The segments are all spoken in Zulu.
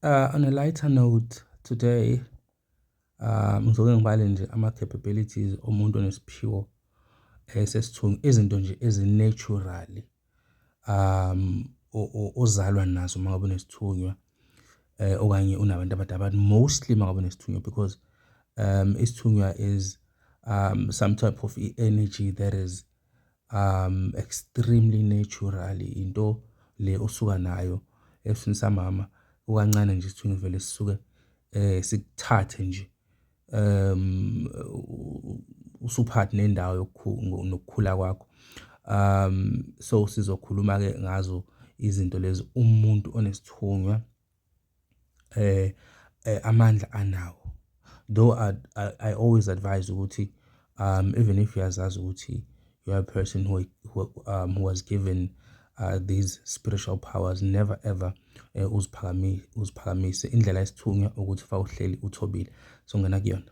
Uh, on a lighter note today uh, ngizoke ngibale nje ama-capabilities omuntu onesiphiwo esesithungi eh, izinto nje ezinaturaly um ozalwa nazo uma ngabe unesithunywa eh okanye unabantu abadala but mostly uma ngabe unesithunywa because um isithunywa is um some type of energy that is um extremely natural into le osuka nayo esini samama ukancane nje sithunywe vele sisuke eh sikuthathe nje um usuphathi nendawo yokukhula kwakho um so sizokhuluma ke ngazo izinto lezi umuntu onesithunywa eh eh amandla anawo though I, I, I always advise ukuthi um even if uyazazi ukuthi you are a person who, who, um, who was given uh, these spiritual powers never ever eh, uziphakamise uziphakamise indlela esithunywa ukuthi fa uhleli uthobile so ngena kuyona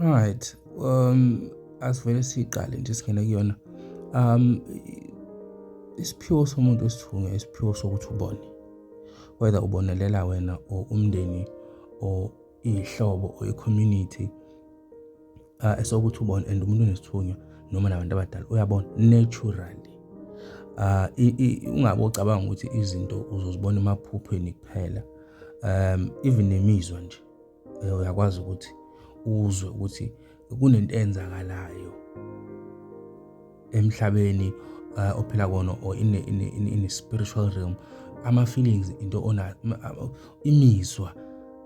Alright, um asivele siqale nje singene kuyona. Um isiphiwo somuntu esithunywa isiphiwo sokuthi ubone whether ubonelela wena or umndeni or iy'hlobo or i-community uh, esokuthi ubone and umuntu onesithunywa noma nabantu abadala uyabona naturally uh, ungabe ucabanga ukuthi izinto uzozibona emaphuphweni kuphela um even nemizwa nje eh, uyakwazi ukuthi uzwe ukuthi kunento eyenzakalayo emhlabeni eh, ophila kona or in a, in a, in a, in a spiritual realm ama feelings into ona imizwa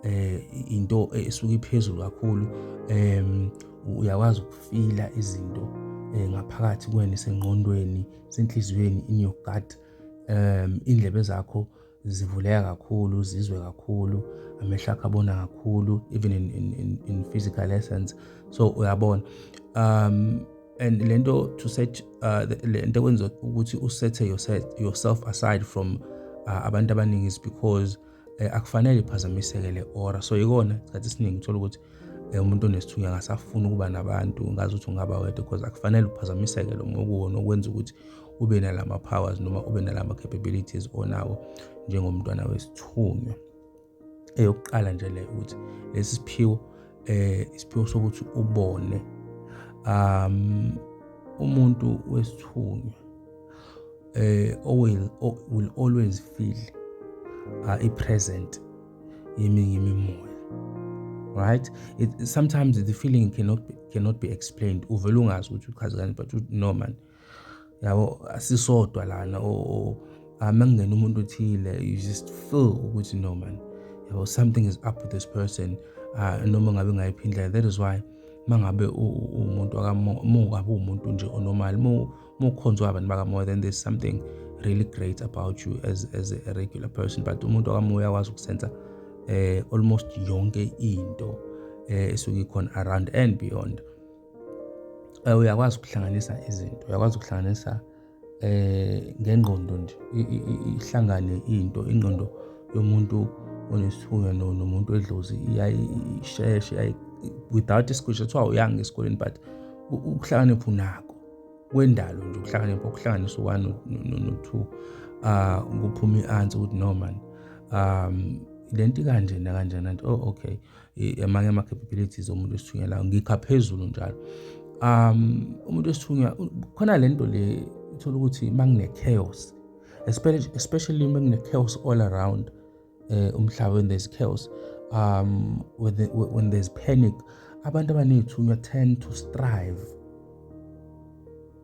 eh into esuke iphezulu kakhulu em uyakwazi ukufila izinto eh, ngaphakathi kwena isengqondweni senhliziyweni in your gut um indlebe zakho zivuleka kakhulu zizwe kakhulu amehlo akhe abona kakhulu even in, in, in, in physical essence so uyabona um and lento to set uh, lento kwenza ukuthi usethe yourself, yourself aside from uh, abantu abaningi is because eh, akufanele iphazamiseke le ora so yikona isikhathi esiningi uthola ukuthi eh, umuntu onesithunywa angasafuni ukuba nabantu ngazi ukuthi ungaba wedwa because akufanele uphazamiseke lo mokuwona okwenza ukuthi ube nalama powers noma ube nalama capabilities onawo njengomntwana wesithunywa eyokuqala nje le ukuthi lesi siphiwo eh isiphiwo sokuthi ubone um umuntu wesithunywa eh will, will always feel uh, i present yeminye imimoya right it, sometimes the feeling cannot be, cannot be explained uvela ungazi ukuthi uchazekani but no man yabo asisodwa lana or uma kungena umuntu othile you just feel ukuthi no man yabo something is up with this person uh, noma ngabe ngayiphi indlela that is why uma ngabe umuntu mungabe uwumuntu nje onormal mukhonzwa abantu bakamoya then there's something really great about you as, as a regular person but umuntu wakamoya uyakwazi ukusenza eh almost yonke into eh esuke ikhona around and beyond eh, uyakwazi ukuhlanganisa izinto uyakwazi ukuhlanganisa eh ngengqondo nje ihlangane into ingqondo yomuntu onesifuyo nomuntu edlozi iyayisheshe without isikushi kuthiwa uyanga esikoleni but ukuhlakanipha unako kwendalo nje ukuhlakanipha ukuhlanganisa u-one no-two um kuphuma i-answer ukuthi no mani um le nto ikanjena kanjena nto oh okay amanye ama-capabilities omuntu esithunyelayo ngikha phezulu njalo um umuntu esithunywa khona le nto le uthola ukuthi uma kune-chaos especially uma kune-chaos all around um umhlaba when there's chaos um when, the, when there's panic abantu abaney'thunywa tend to strive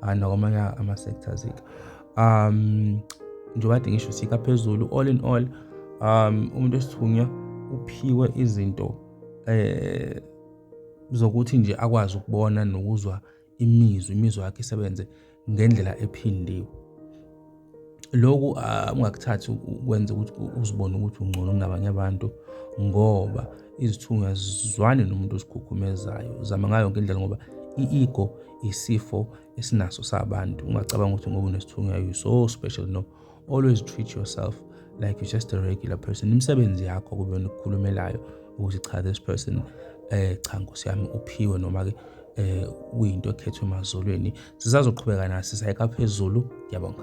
ah, nakwamanye ama-sectors ke um njengoba kade ngisho sika phezulu all in all um umuntu esithunywa uphiwe izinto eh zokuthi nje akwazi ukubona nokuzwa imizwa imizwa yakhe isebenze ngendlela ephindiwe Loku ah, ungakuthathi ukwenza ukuthi uzibone ukuthi ungcono kunabanye abantu ngoba izithunywa zizwane nomuntu ozikhukhumezayo. Zama ngayo yonke indlela ngoba i-ego isifo esinaso sabantu. Ungacabanga ukuthi ngoba unesithunywa you so special no. Always treat yourself like you're just a regular person. Imisebenzi yakho kube yona ekukhulumelayo ukuthi cha this person eh cha Nkosi yami uphiwe noma-ke eh kuyinto ekhethwe emazulwini sisazoqhubeka nathi sayeka phezulu ngiyabonga